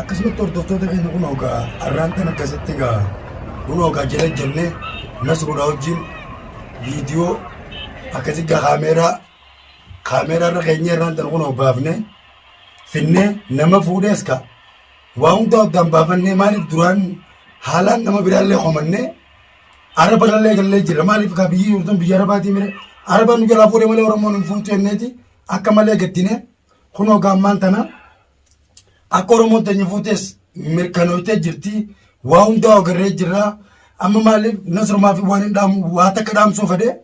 akkasumatti hordoftoota keenya kun ogaa har'aan kan akkasitti egaa kun ogaa jala jennee nas godhaa wajjin viidiyoo akkasitti kaameeraa kaameeraa irra keenya irraan tan kun baafne finnee nama fuudhees ka waa hundaa addaan baafannee maaliif duraan haalaan nama biraallee komannee araba irrallee gallee jira maaliif kaa biyyi jirtan biyya arabaatii mire araba nu jalaa fuudhe malee oromoon hin fuutu jenneeti akka malee gaddine kunoo gaammaan tana akka oromoon teenya fuutes mirkanootee jirti waa hundaa ogarree jirra amma maaliif nasrumaa fi waan hin dhaamu waa takka dhaamsuu fedhee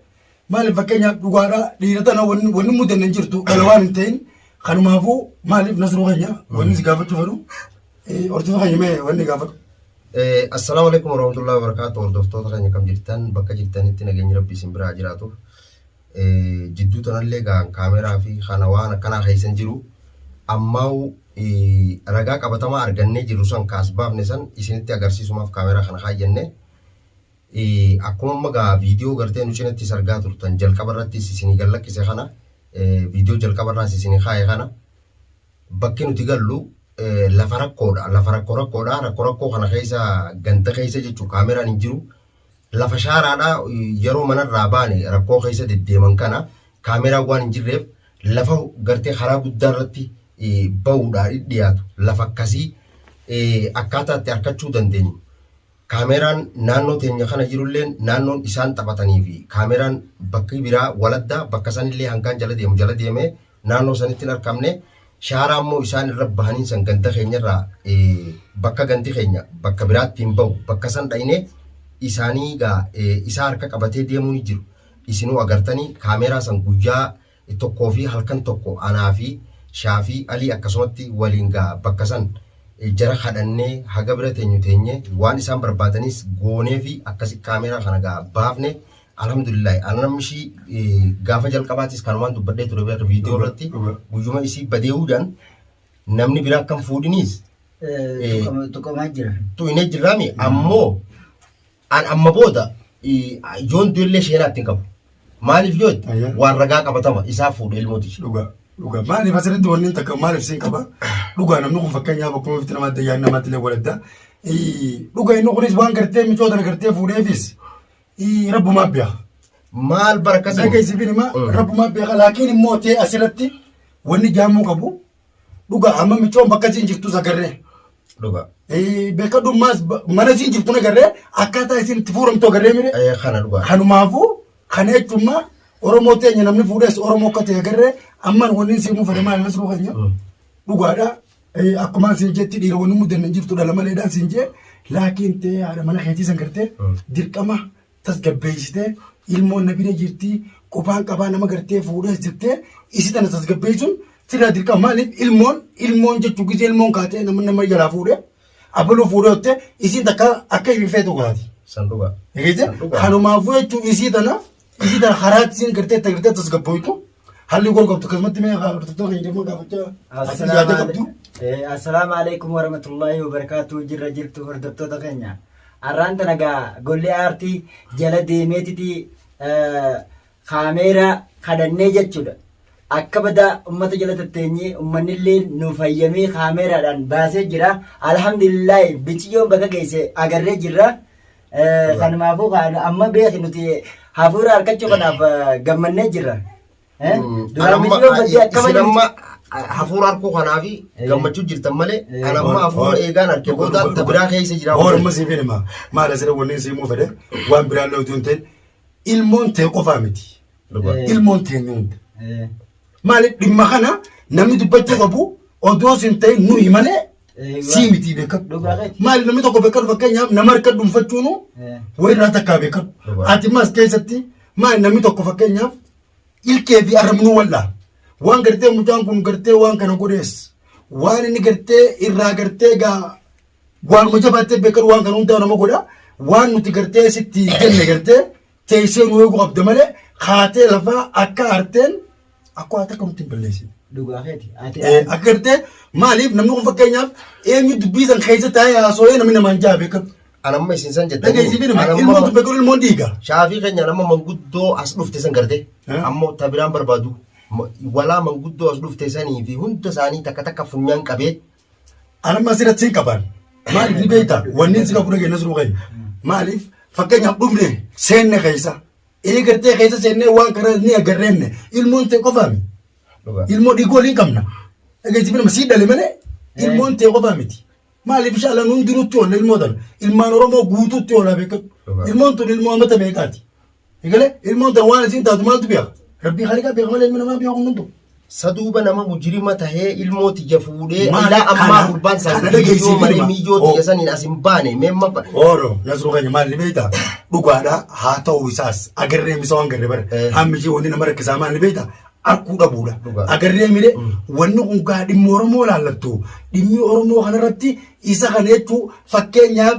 Maaliif fakkeenyaaf dhugaadhaa dhiira tana wanni wanni mudanne hin jirtu dhala waan hin ta'in kanumaafuu maaliif nasruu keenya wanni si gaafachuu fedhu eh, horsiisa keenya mee wanni gaafadhu. Eh, Assalaamu alaikum warahmatullahi wabarakatuh hordoftoota keenya kam jirtan bakka jirtanitti nageenyi rabbi isin biraa jiraatu Eh, jidduu tanallee gaan kaameraa fi kana waan akkanaa keessan jiru ammaa'u eh, ragaa qabatamaa argannee jirru san kaas baafne san isinitti agarsiisumaaf kaameraa kana kaayyanne Akkuma amma gaa viidiyoo gartee nu cinatti is argaa turtan jalqaba irrattis isinii gad lakkise kana viidiyoo jalqaba irraas isinii kaa'e kana bakki nuti gallu lafa rakkoodha lafa rakkoo rakkoodha rakkoo rakkoo kana keessa ganda keessa jechuun kaameraan hin jiru lafa shaaraadha yeroo manarraa baane rakkoo keessa deddeeman kana kaameraan waan hin jirreef lafa gartee karaa guddaa irratti ba'uudhaan dhiyaatu lafa akkasii akkaataa itti harkachuu dandeenyu Kaameeraan naannoo teenya kana jirulleen naannoon isaan taphatanii fi kaameeraan bakki biraa waladda bakka sanillee hangaan jala deemu jala deemee naannoo sanitti hin arkamne shaaraa immoo isaan irra bahaniin san ganda keenya irraa bakka gandi keenya bakka biraatti hin bahu bakka san dhayne isaanii gaa isaa harka qabatee deemuu ni jiru isinuu agartanii kaameeraa san guyyaa tokkoo fi halkan tokko anaa fi Shaafii Alii akkasumatti waliin gaa bakka san jara kadhannee haga bira teenyu teenye waan isaan barbaadaniis goonee fi akkasi kaameeraa kana gaa baafne alhamdulillahi ana namni ishii eh, gaafa jalqabaatis kanumaan dubbadhee ture beeka viidiyoo irratti Dhuga. guyyuma isii badee'uudhaan namni biraa akkam fuudhiniis Eh, tuqama- tuqamaa jira. tu hin jirraami ammoo An amma booda yoon du'ellee sheenaa ittiin qabu. Maaliif yoo itti Ayya. waan ragaa qabatama isaa fuudhe ilmoo tiyya. Dhugaa. Dhugaa. Maaliif asirratti wanni hin takka maaliif siin qaba? Dhugaa namni kun fakkeenyaaf akkuma bifti namaa adda yaa'in namaatti illee waladda. Dhugaa inni kunis waan gartee micoota na gartee fuudheefis ii, rabbumaa biya. Maal bara akkasii? Dhageessi fi nima Mm. rabbumaa biya. Laakiin immoo tee asirratti wanni jaamuu qabu Dhugaa amma michoon bakka isiin jirtus agarree. Dhugaa. Eh, Beekadummaas ba- mana isiin jirtu agarree akkaataa isiin itti fuuramtu agarree mire. Eh, Kana dhugaa. Kanumaafuu kana jechuun Oromoo teenya namni fuudhes Oromoo akka ta'e agarree ammaan wanni isiin muufate maal nasruu keenya. Mm. dhugaadha Eh, akkuma siin jetti dhiira wanni mudanne hin jirtu dhala maleedhaan siin jee laakiin tee haadha mana keetii san gartee Mm. dirqama tasgabbeessitee ilmoon na bira jirtii qophaan qabaa nama gartee fuudhees jettee isi tana tasgabbeessuun sirraa dirqama maaliif ilmoon ilmoon jechuu gisee ilmoon kaatee nama nama jalaa fuudhee abaluu fuudhee ottee isiin takka akka ifi feetu kaati. San dhugaa. Egeete San dhugaa. kanumaafuu jechuun isii tana isii tana haraatti isiin gartee itti gartee tasgabboytu Halli gool qabdu akkasumatti mee haa hordoftoota keenya deemuun gaafachaa ati yaada qabdu. Assalaamu alaikum warahmatullahi wabarakatuh jirra jirtu hordoftoota keenya. Arraan tana gaa golli aartii jala deemeetiti kaameeraa kadhannee jechuudha. Akka badaa ummata jala tatteenyee ummannillee nu fayyamee kaameeraadhaan baasee jira. Alhamdulillahi biciyyoon bakka geesse agarree jirra. Eh, Kanumaafuu kaan amma beeki nuti hafuura harkachuu kanaaf eh, gammannee jirra. Eh, Duraan miidhagoo badii akkama isin amma hafuura harkuu kanaa fi Eh. gammachuu jirtan malee Eh. kan amma hafuura eegaan harkee booda ta biraa keessa jira. Horma siif hima. Maal asirra wanni siif muu fedhe waan biraan lootuu hin ta'in ilmoon ta'e qofaa miti. Dhugaa. Eh. ilmoon teenya hunda. Eh, Maaliif dhimma kana namni dubbachuu qabu odoo sin ta'in nuyi malee eh, sii waa- miti beekamu. Dhugaa keeti. Maaliif namni tokko beekamu fakkeenyaaf nama harka dhuunfachuun Eh, walirraa takkaa beekamu. Dhugaa. Ati maas keessatti maal namni tokko fakkeenyaaf ilkee fi arrabnuu wal'aa. Waan gartee mucaan kun gartee waan kana godhees waan inni gartee irraa gartee gaa waanuma jabaattee beekamu waan kana hundaa nama godha. Waan nuti gartee sitti jenne gartee teessee nu eeguu qabda malee kaatee lafaa akka arteen akka waan takka nutti hin balleessine. Dhugaa keeti. Ati Eh, akka gartee maaliif namni kun fakkeenyaaf eenyu dubbii san keessa taa'ee haasoo'ee namni namaan ja'a beekatu. anamma isin san jettanii Dhageessiifii nama Anamma- ilmoo dubbe kun ilmoon dhiiga. shaafii keenya nama manguddoo as dhufte san garte Eh? ammoo ta biraan barbaadu Ma- walaa manguddoo as dhufte sanii fi hunda isaanii takka takka funyaan qabee Anamma asirratti hin qaban. Maaliif ni beekta? Wanni isin hafuura keenya siruu keenya. Maaliif? Fakkeenyaaf dhufne seenne keessa. Eegartee keessa seennee waan kana ni agarreenne. Ilmoon ta'e qofaami. Dhugaa. Ilmoo dhiiguu waliin qabna. Dhageessiif nama sii dhale malee ilmoon ta'e qofaa miti. Maaliif shaalaan hundinuutti oolla ilmoo tana. Ilmaan Oromoo guutuutti oola beekatu. Dhugaa. Ilmoon tun ilmoo amata meeqaati? Egalee ilmoon tan waan isiin taatu maaltu beeka? Rabbii haaliqaa beeka malee ilmi namaa beeku hundumtu. Saduuba nama mujirima tahee ilmoo tiyya fuudhee Maali ilaa ammaa kana- gurbaan isaa kana miyyoo geessiif malee ilma. miyyoo Oo. tiyya saniin as hin baane meemma ba- Ooro nasruu keenya maal ni beektaa? Dhugaadhaa haa ta'uu isaas agarree misa waan garree bara. Eh. Hammi ishee wanni nama rakkisaa maal ni beektaa? Akkuu dhabuudha. Dhugaa. Agarree mire wanni kun gaa dhimma Oromoo laallattu dhimmi Oromoo kanarratti isa kana jechuun fakkeenyaaf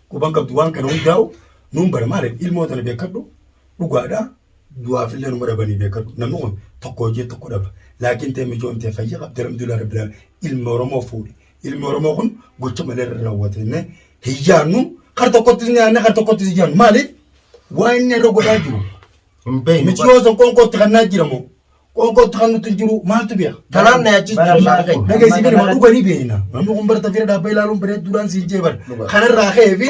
Quban qabdu waan kana hundaa'u nuun bara maaliif ilmoo tana beekadhu dhugaadha du'aaf illee numa dhabanii beekadhu namni kun tokko hojii tokko dhaba laakiin tee mijoon tee fayya qabdi alhamdulillah rabbil alamin ilmi oromoo fuudhe ilmi oromoo kun gocha malee irra raawwatenne hin yaannu kar tokkottis ni yaanne kar tokkottis hin yaannu maaliif waa inni irra godhaa jiru Hin beeknu. miciyoo san qoonqootti kannaa jiramoo Qoonqootti kan nutti hin jiru maaltu beeka? Kanaaf na yaachisuu shaaka keenya. Naga isin birma dhuga ni beekna. Namni kun barta fira dhaabba ilaaluun bareedduudhaan siin jee bar. Kanarraa ka'ee fi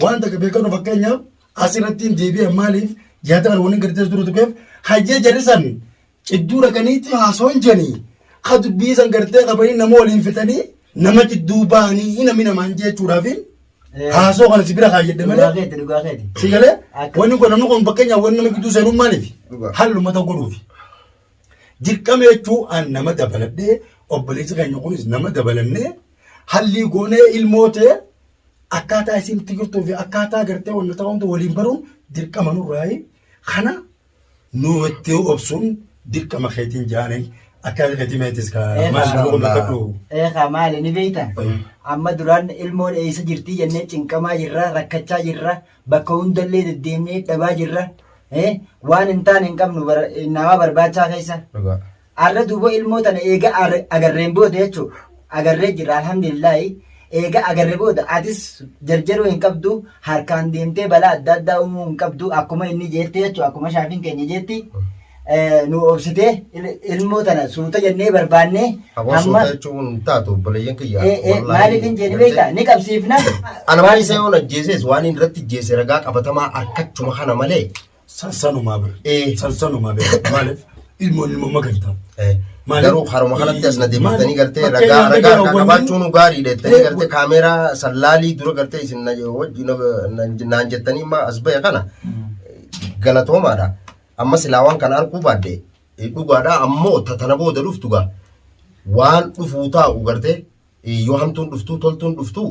waan takka beekanu fakkeenyaaf asirratti hin deebi'an maaliif yaada kana waliin gadi teessu dura tuqeef hayyee jarrisan cidduu dhaqaniitti haasoo hin jedhanii ka dubbii san gartee qabanii nama waliin fixanii Nama jidduu bahanii hin aminamaan jechuudhaaf haasoo kana si bira kaayyadde Dhugaa malee keeti dhugaa keeti. si galee Akka- wanni kun namni kun fakkeenyaaf wanni nama gidduu seenuun maaliif Dhugaa. halluma ta'u godhuufi. Dirqama jechuun an nama dabaladhee obboleessi keenya kunis nama dabalannee hallii goonee ilmoo ta'e akkaataa isin itti jirtuu fi akkaataa gartee wanna ta'uun waliin baruun dirqama nurraayi kana nu itti obsuun dirqama keetiin jaanii akka keetii meetis ka Eegaa. maal nama bakkadhu. Eegaa maali ni beekta? Amma duraan ilmoon eessa jirtii jennee cinqamaa jirra, rakkachaa jirra, bakka hundallee deddeemnee dhabaa jirra. Eh, Waan hin taane hin qabnu bara- namaa barbaachaa keessa. Dhugaa. Arra duuba ilmoo tana eega arre- agarreen booda jechuu agarree jirra alhamdulillaahi eega agarre booda atis jarjaruu hin qabdu harkaan deemtee balaa adda addaa uumuu hin qabdu akkuma inni jeetti jechuu akkuma shaafiin keenya jeetti eh, nu obsitee il- ilmoo tana suuta jennee barbaannee Aboo suuta jechuun hin taatu obboleeyyan kiyya. Eh, eh, Wallaahi, maaliif hin jeeni gartee? beektaa ni qabsiifna Ana maal isa yoon ajjeeses waan inni irratti ajjeese ragaa qabatamaa harkachuma kana malee Sansanumaa bira. Ee. Sansanumaa bira. Maaliif ilmoon ilmoo magartaa. Eh, Maali? Garuu haruma kanatti as na Maali? deebiftanii gartee Bakka ragaa yaadda ragaa garaa harkaa waliin- qabaachuun gaarii dheettanii Ee, gartee kaameeraa sallaalii dura gartee isin na wajji na- na- naan jettanii ma as ba'e kana galatoomaadha. Amma silaa waan kana arguu baadde eh, dhugaadha ammoo ta- tana booda dhuftu gaa waan dhufuu taa'u gartee eh, yoo hamtuun dhuftuu toltuun dhuftuu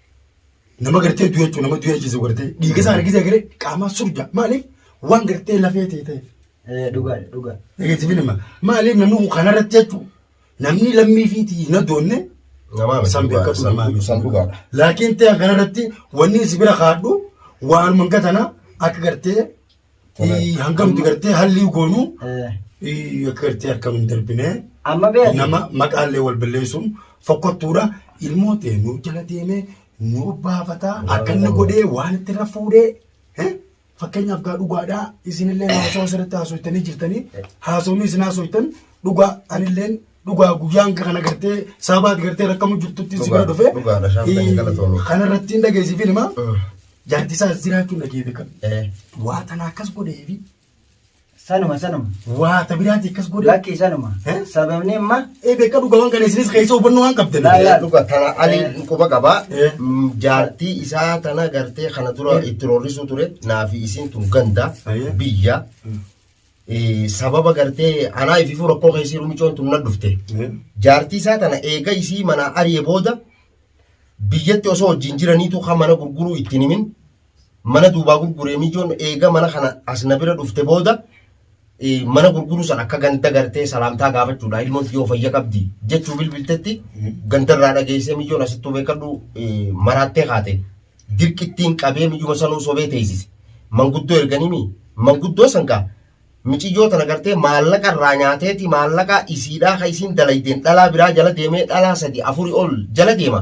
Nama gartee du'e jechuun nama du'e jechuun gartee dhiiga isaa argitee garee qaamaa surja maaliif waan gartee lafee ta'e ta'eef. Dhugaadha dhugaa. Dhageettiifi nama maaliif namni kun kanarratti jechuun namni lammii fi hin addoonne Namaa san beekatu namaa miti. San dhugaadha. Laakiin ta'e kanarratti wanni si bira kaadhu waanuma gatanaa akka gartee Tola. Ii, hangamti gartee hallii goonu Eh, ii, akka gartee harkam hin darbine Amma beekti. nama maqaallee wal balleessuun fokkottuudha ilmoo ta'e nu jala deemee nu baafata akka inni godhee waan itti irra fuudhee eh, fakkeenyaaf gaa dhugaadhaa isinillee haasawaa asirratti haasofitanii jirtanii haasawni isin haasoftan dhugaa anilleen dhugaa guyyaan kana gartee saabaati gartee rakkamu jirtutti si bira Dhugaa- dhufe dhugaadha, shaampiin ii, galatoomi. kanarratti hin dhageessiifin himaa Mm. Jaartisaa as jiraachuun dhagee beekame. Eh. Waa tanaa akkas godheefi Sanuma sanuma. waa ta biraatii akkas godhe. Lakkii sanuma. Eh? Sababni imma Ee beekaa dhugaawwan kana isinis keessa hubannoo waan qabdan. Laa, laa. dhuga tana ani quba qaba Eh. Mm, jaartii isaa tana gartee kana dura Eh. itti roorrisuu ture naafi isiin tun ganda Ayyee. biyya Mm. Eh, sababa gartee anaa ififuu rakkoo keessii rumicoon tun na dhufte Eh. jaartii isaa tana eega isii manaa ari'e booda biyyatti osoo wajjin jiraniitu kan mana gurguruu ittiin himin mana duubaa gurguree mijoon eega mana kana as na bira dhufte booda eh, mana gurguruu san akka ganda gartee salaamtaa gaafachuudha ilmoon yoo fayya qabdi jechuu bilbiltetti gandarraa dhageessee mijoon asittuu beekadhu eh, maraattee kaate dirqittiin qabee mijuma sanuu sobee teessise manguddoo erganimi manguddoo sangaa Miciyyoo tana gartee maallaqa irraa nyaateeti maallaqa isiidhaa ka isiin dalaydeen dhalaa biraa jala deemee dhalaa sadi afuri ol jala deema.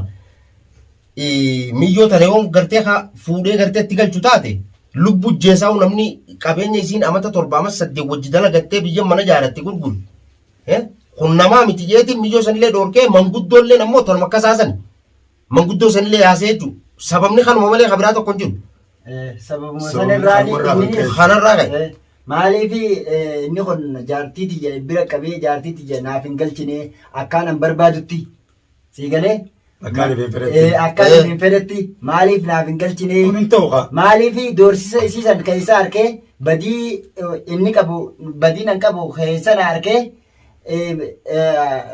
Miyyoo tana yoo gartee ka fuudhee gartee itti galchu taate lubbu jeesaa namni qabeenya isiin amata torba amas saddeet wajji dalagattee biyya mana jaaratte gurguru. Kun namaa miti jeetiin miyyoo sanillee dhoorkee manguddoolleen ammoo tanuma akkasaa sani. Manguddoo sanillee yaasee jechuudha. Sababni kanuma malee kan biraa tokko hin jiru. Eh, Sababuma Sababni sanarraa kanuma irraa inni- kan ka'e. Kanarraa ka'e. Eh, Maaliif eh, inni kun jaartii tiyya bira qabee jaartii tiyya naaf hin galchine akkaan an barbaadutti sii galee Akkaan hin fedhetti. Eh, akkaan Eh. hin fedhetti maaliif naaf hin galchine Kun hin ta'u kaa. maaliif doorsisa isii san keessa harkee badii eh, inni qabu badii nan qabu keessa na harkee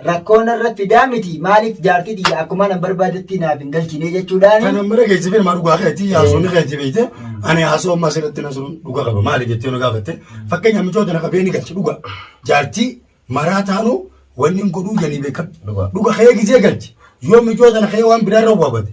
rakkoo narra fidaa miti maaliif jaartii tiyya akkuma nan barbaadetti naaf hin galchine jechuudhaan. Kanan bira geejjibeen maa dhugaa keetii haasofni keetii beekte ani haasoo ammaa asirratti na suruun dhugaa qaba maali jettee na gaafatte fakkeenya michoota na qabee ni galcha dhugaa jaartii maraa taanu wanni hin godhuu janii beekan dhugaa kee gizee galchi yoo michoota na kee waan biraa irra waabate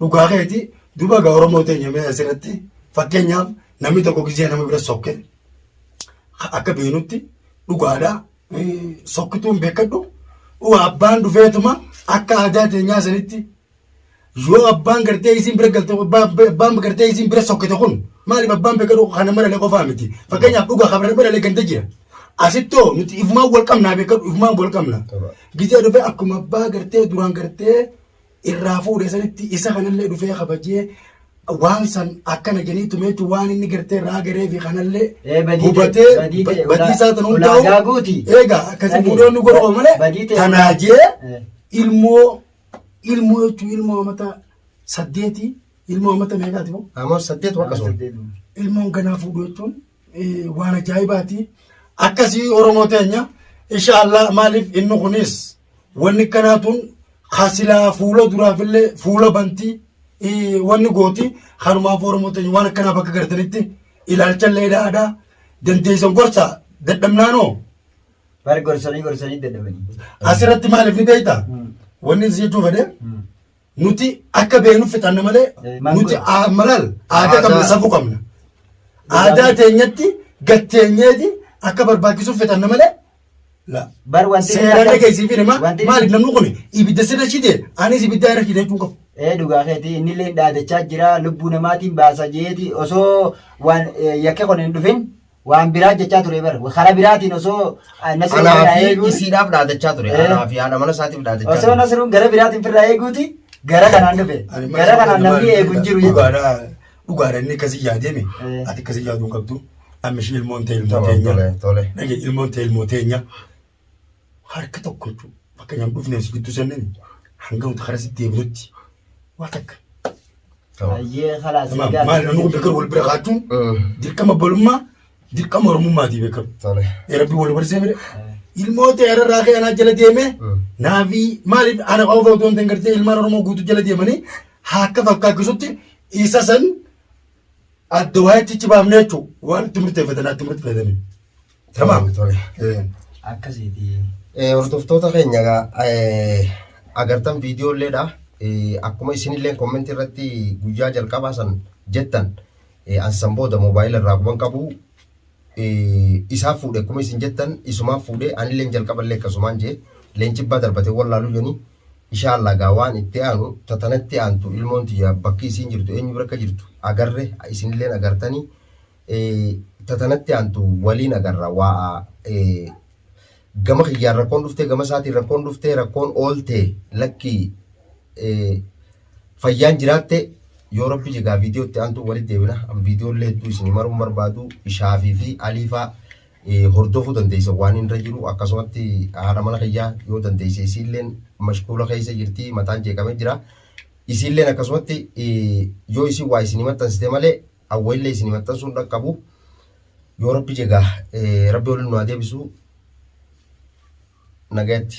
Dhugaa keeti duba ga Oromoo teenya mee asirratti fakkeenyaaf namni tokko gisee nama bira sokke akka beenutti dhugaadha sokkituun beekadhu waa abbaan dhufeetuma akka aadaa teenyaa sanitti yoo abbaan gartee isiin bira galte abbaan gartee isiin bira sokkite kun maaliif abbaan beekadhu kana maralee qofaa miti fakkeenyaaf dhugaa kabira biralee ganda jira asittoo nuti ifumaan wal qabnaa beekadhu ifumaan wal qabna gisee dhufee akkuma abbaa gartee duraan gartee irraa fuudhe sanitti isa kanallee dhufee kabajee waan san akkana jedhanii tume jechuun waan inni gartee irraa garee fi kanallee Ee, badii ta'e, hubatee badii ta'e, badii isaa tan ulaa- ulaagaa hundaa'u guuti. eegaa akkasii Dhagee. fuudhoonni godhama malee Badii ta'e, tanaa ulaa- jee Ee. ilmoo ilmoo jechuun ilmoo amata saddeeti ilmoo amata meeqaati moo Ammoo saddeet wakkasuma. ilmoon ganaa fuudhu jechuun waan ajaa'ibaati akkasii oromoo teenya inshaallah maaliif inni kunis wanni kanaa tun kasilaa fuula duraafillee fuula bantii wanni gooti kanumaaf oromoo teenya waan akkanaa bakka gartanitti ilaalchallee dhaadhaa dandeessan gorsa dadhabnaanoo Bari gorsanii gorsanii dadhabanii. asirratti maaliif ni beekta wanni si jechuu fedhe Nuti akka beeknuuf fixanna malee nuti aa- malal aadaa qabna Aadaa. safuu qabna. Aadaa teenyatti gatteenyeeti akka barbaachisuuf fixanna malee la. Bar wanti Seeraan akka- dhageessiif hima wanti- maaliif namni kun ibidda sirra shite anis ibidda irra shite jechuun qabu. Ee dhugaa keetii inni illee dhaadachaa jira lubbuu namaatiin baasa jeeti osoo waan eh, yakke kun hin dhufin Waan biraa jechaa ture bar. Karaa biraatiin osoo Nasruun Anaa irraa fi eeguun isiidhaaf dhaadachaa ture. Eh. Anaa fi haadha mana isaatiif dhaadachaa osoo ture. Nasruun gara biraatiin firraa eeguuti gara kanaan dhufe. Ani Gara maal- kanaan maal- namni eegu hin jiru jechuudha. Dhugaadhaa dhugaadhaa inni akkasii yaadame Eh. ati akkasii yaaduu hin qabdu. Amma ishii ilmoon ta'e ilmoo Tole, teenya. tole, tole. Dhage ilmoon ta'e ilmoo teenya. harka tokko jechuudha. Bakka nyaanni dhufnee si gidduu seennan hanga nuti karaa sitti deebinutti waa takka. Ayyee kalaas Maal egaa. maal namni kun beekamu wal bira kaachuun dirqama balummaa dirqama oromummaati beekamu. Tole. Ee rabbi wal barsee mire ilmoo ta'e irraa ka'e anaa jala deemee naafi maaliif ana qofa otoo hin ta'in gartee ilmaan oromoo guutuu jala deemanii haakka fakkaachisutti isa san adda waayachichi baafnee jechuudha. Waan itti murteeffatan itti murteeffatanii. Tamam. Akkasiiti. Hordoftoota keenya agartan viidiyoo illeedha. Akkuma isinillee kommentii irratti guyyaa jalqabaa san jettan ansan booda moobaayila irraa guban qabu isaa fuudhe akkuma isin jettan isumaa fuudhe anillee jalqaballee akkasumaan jee leencibbaa darbate wallaaluu jeni ishaallah gaa waan itti aanu tatanatti aantu ilmoon tiyya bakki isiin jirtu eenyu bira akka jirtu agarre isinilleen agartanii ta tanatti aantu waliin agarra waa gama kiyyaan rakkoon dhuftee gama isaatiin rakkoon dhuftee rakkoon oolte lakkii fayyaan jiraatte yoo rabbi jegaa viidiyootti aantu walitti deebina an viidiyoollee hedduu isin maruun barbaadu ishaafii fi aliifaa hordofuu dandeessa waan hin irra jiru akkasumatti haadha mana kiyyaa yoo dandeesse isiilleen mashkuula keessa jirti mataan jeeqamee jira isiilleen akkasumatti yoo isin waa isin maxxansite malee hawwaillee isinii maxxansuun dhaqqabu yoo rabbi jegaa rabbi waliin nu haa deebisu nagayatti.